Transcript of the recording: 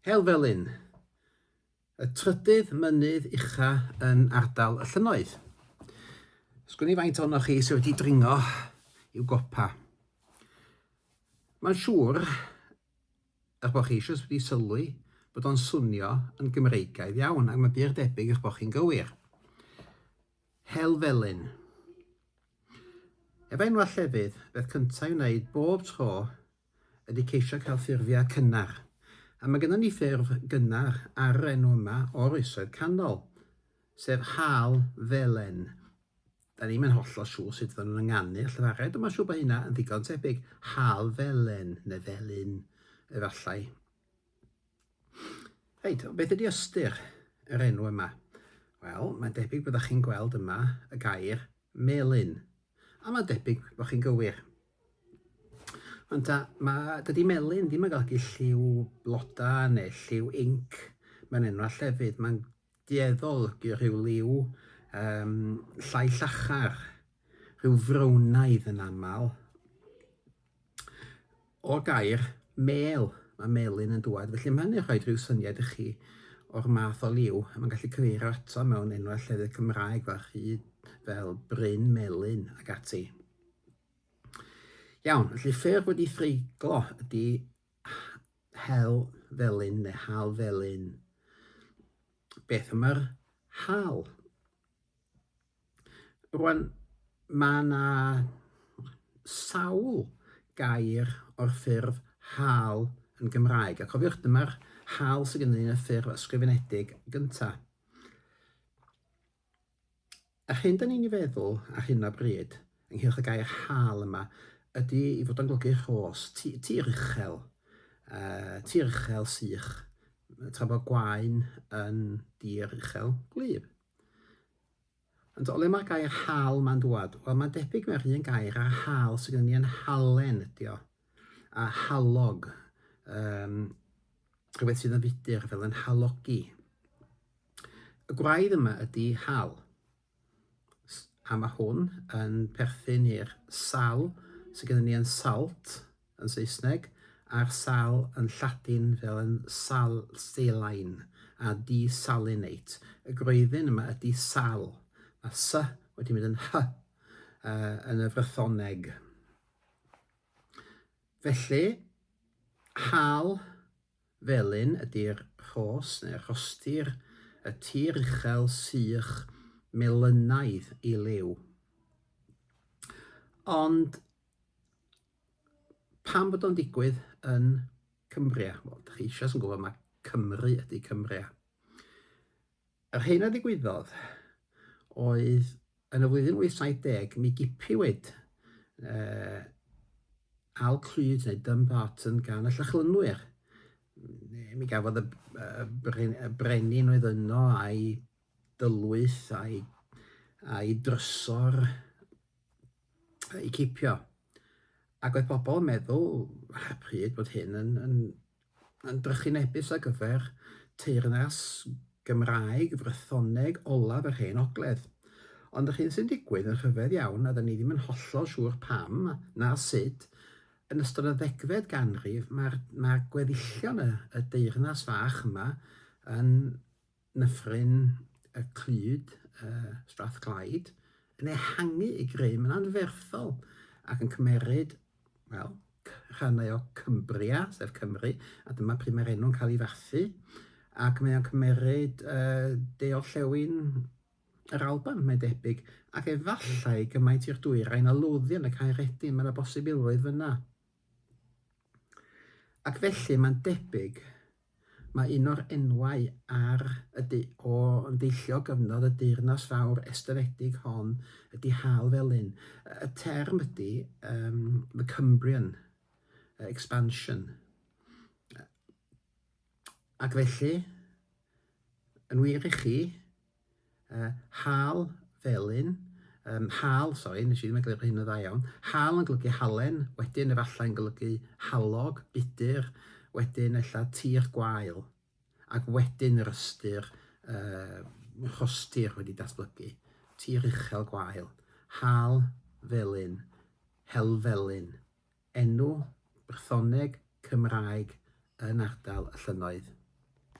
Helfellyn, y trydydd mynydd ucha yn ardal y llynnoedd. Sgwn i faint ohonoch chi sydd wedi dringo i'w gopa. Mae'n siŵr, eich bod chi eisiau wedi sylwi, bod o'n swnio yn Gymreigaidd iawn, ac mae byr debyg eich bod chi'n gywir. Helfellyn. Efo enwau llefydd, beth cyntaf i wneud bob tro ydy ceisio cael ffurfiau cynnar, a mae gennym ni ffurf gynnar ar yr enw yma o'r Oesoedd Canol, sef Hal Felen. Da ni'm yn hollol siŵr sut fyddan nhw'n ynganu y llefared, ond mae'n siŵr bod hynna yn ddigon tebyg, Hal Felen, neu Felyn, efallai. Reit, beth ydy ystyr yr enw yma? Wel, mae'n debyg byddwch chi'n gweld yma y gair melyn, a mae'n debyg bod chi'n gywir. Ond ta, mae, dydy melyn ddim yn golygu lliw blodau neu lliw inc mewn enwau llefydd. Mae'n dueddol olygu rhyw liw um, llai llachar, rhyw frownaidd yn aml. O gair mel, mae melyn yn dŵad, felly mae'n ei rhoi rhyw syniad i chi o'r math o liw. Mae'n gallu cyfeirio ato mewn enwau llefydd Cymraeg fel rhyd, fel bryn melyn ac ati. Iawn, felly ffyrdd wedi threiglo ydy hel felyn neu hal felyn. Beth am yr hal? Rwan, mae yna sawl gair o'r ffurf hal yn Gymraeg. A cofiwch, dyma'r hal sydd gennym ni yn y ffurf ysgrifenedig gyntaf. Yr hyn dŷn ni'n ei feddwl ar hyn o bryd, ynghylch y gair 'hâl' yma, ydi ei fod o'n golygu rhos, ti- tir uchel, yy, tir uchel sych, tra bod gwaun yn dir uchel gwlyb. Ond o le mae'r gair 'hâl' ma'n dŵad? Wel, mae'n debyg mae'r un gair a'r 'hâl' sydd gen ni yn halen ydi o. a halog, um, rhywbeth sydd yn fudur fel yn halogi. Y gwraidd yma ydy hal, a mae hwn yn perthyn i'r sal sydd gennym ni yn salt yn Saesneg, a'r sal yn Lladin fel yn sal saline a desalinate. Y gwreiddyn yma ydy sal, mae sy wedi mynd yn hy uh, yn y frythoneg. Felly, hâl felyn ydy'r rhos, neu rhostir, y tir uchel sych melynaidd i liw. Ond pam bod o'n digwydd yn Cumbria? Wel, dych chi eisiau yn gwybod, mae Cymru ydy Cumbria. Yr hyn a ddigwyddodd oedd yn y flwyddyn 870 mi gipiwyd uh, al clyd neu Dumbarton gan y Llachlynwyr. Mi gafodd y, y, y brenin oedd yno a'i dylwyth a'i, a'i drysor i cipio. Ac oedd pobl yn meddwl ar y pryd bod hyn yn, yn, yn drychinebus ar gyfer teyrnas Gymraeg Frythoneg olaf yr Hen Ogledd. Ond yr hyn sy'n digwydd yn rhyfedd iawn, a 'da ni ddim yn hollol siŵr pam, na sut, yn ystod y ddegfed ganrif, mae'r, mae'r gweddillion y, y deyrnas fach yma yn Nyffryn y Clyd, Strathclyde, yn ehangu ei grym yn anferthol ac yn cymeryd, wel, rhannau o Cumbria, sef Cymru, a dyma pryd mae'r enw'n cael ei fathu, ac mae o'n cymeryd de-orllewin yr Alban, mae'n debyg, ac efallai gymaint i'r dwyrain o Lothian y Caeredin, mae yna bosibilrwydd fan'na. Ac felly mae'n debyg Mae un o'r enwau ar y du o yn deillio o gyfnod y deyrnas fawr estynedig hon ydi Hal Felin. Y term ydi um, the Cumbrian expansion. Ac felly, yn wir i chi, Yy, hal, felyn, yym, hal, sori, nes i ddim egluro hyn yn dda iawn, hal yn golygu halen, wedyn efallai'n golygu halog, budur, wedyn ella tir gwael, ac wedyn yr ystyr yy rhostir wedi datblygu, tir uchel gwael, hal, felyn, helfelyn, enw, Brythoneg, Cymraeg, yn ardal y llynnoedd.